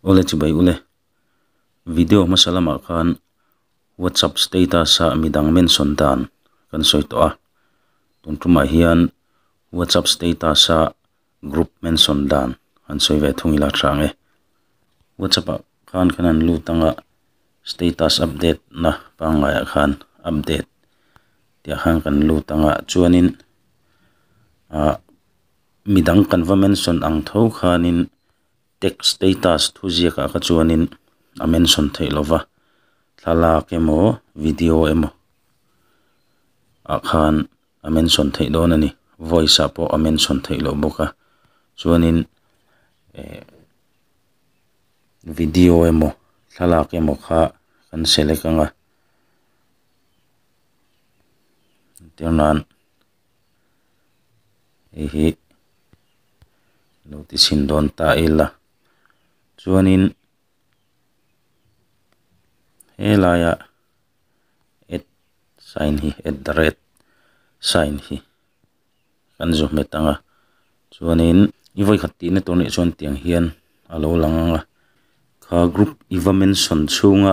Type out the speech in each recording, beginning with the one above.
Ule chibai ule. Video hmasa lamah khan WhatsApp status a midang mention dan kan sawi tawh a, tun tumah hian WhatsApp status a group mention dan han sawi ve thung ila tha ang e. WhatsApp ah khan kan han lut anga status update na pangngai ah khan update tih a khan kan lut anga chuanin ah-- midang kan va mention ang tho khanin text status thu ziakah kha chuanin a mention theih lo va, thlalak emaw video emaw ah khan a mention theih dawn a ni, voice ah pawh a mention theih loh bawk a, chuanin eh video emaw thlalak emaw kha kan select ang a, tia nan. hei hi lo ti chhin dawn ta ila chuanin helaia at sign hi at the rate sign hi kan zu hmet ang a chuanin i vawikhat tih na tur leh chuan tiang hian a lo lang ang a kha group mention chhunga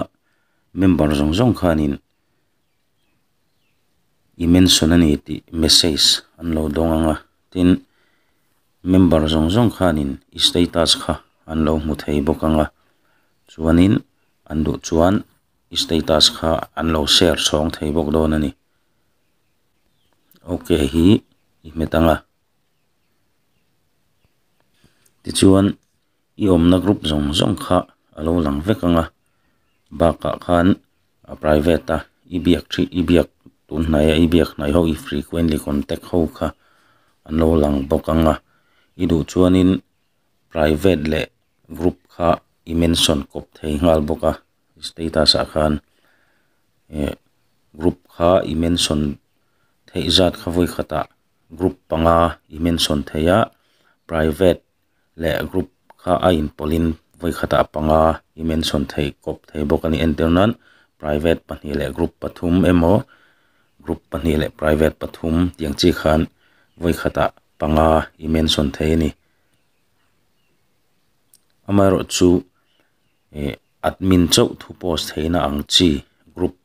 member zawng zawng khanin-- i mention a ni tih message an lo dawng ang a tin member zawng zawng khanin i status kha an lo hmu thei bawk ang a chuanin an duh chuan i status kha an lo share chhawng thei bawk dawn a ni ok hi i hmet ang a tichuan-- I awmna group zawng zawng kha a lo lang vek ang a, bakah khan private a i biak ṭhi i biak tunhnai a i biak hnai ho i frequently contact ho kha an lo lang bawk ang a, i duh chuanin private leh group kha i mention kawp thei nghal bawk a, status ah khan eh group kha i mention theih zat kha vawi khatah group panga i mention thei a, private. leh group kha a inpawlhin vawikhatah panga i mention thei kawp thei bawk a ni entir nan private pahnih leh group pathum emaw group pahnih leh private pathum tih ang chi khan vawikhatah panga i mention thei a ni amaherawhchu chu eh admin chauh thu post theihna ang chi group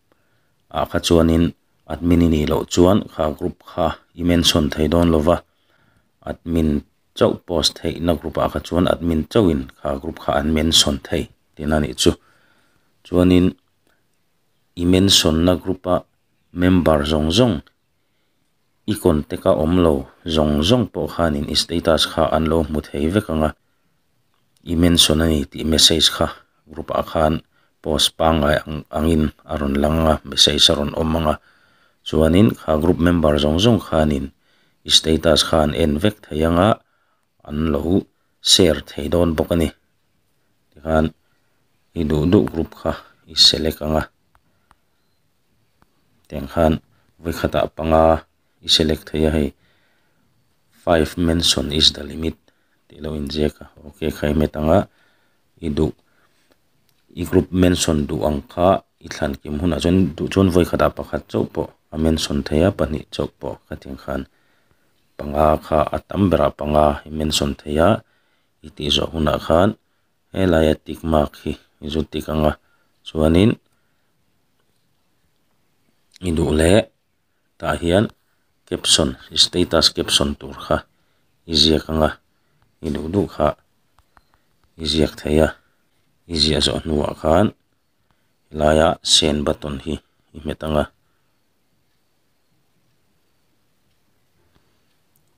ah kha chuanin admin i nih loh chuan kha group kha i mention thei dawn lo va admin -- chauh post theihna group ah kha chuan admin chauh in kha group kha an mention thei tih na nih chu chuan in i mention na group a member zawng zawng i contact a awm lo zawng zawng pawh khan in status kha an lo hmu thei vek ang a. I mention a ni tih message kha group ah khan post pangngai ang angin a rawn lang a message a rawn awm ang a chuanin kha group member zawng zawng khanin i status kha an en vek thei ang a an lo share thei dawn bawk a ni tikhan i duh duh group kha i select ang a tiang khan vai khatah panga-- i select theih a hei five mention is the limit tih lo inziak a ok khai met ang a i duh i group mention duh ang kha i thlan kim hunah chuan duh chuan vawi khatah pakhat chauh pawh a mention thei a pahnih chauh pawh ka ti ang khan panga kha a tam berah panga i mention thei a i tih zawh hunah khan helaia tick mark hi i zut dik ang a chuanin i duh leh. tah hian caption status caption tur kha i ziak anga i duh duh kha i ziak thei a i ziah zawh hnuah khan helaia send button hi i hmet ang a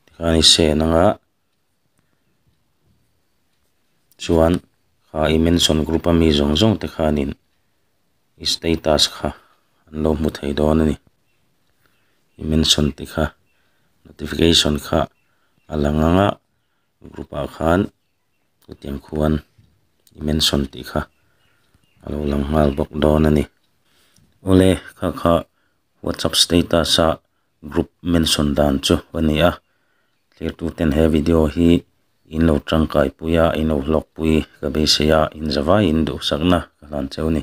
tikhan i send anga. chuan kha i mention group a mi zawng zawng te khanin i status kha an lo hmu thei dawn a ni i mention te kha notification kha a lang ang a group ah khan hetiang khuan i mention tih kha a lo lang nghal bawk dawn a ni awle kha kha whatsapp status ah-- group mention dan chu ka ni a thirtu ten he video hi in lo tangkai pui a in lo hlawkpui ka beisei a inzavaiin duhsakna ka hlan cheu a ni.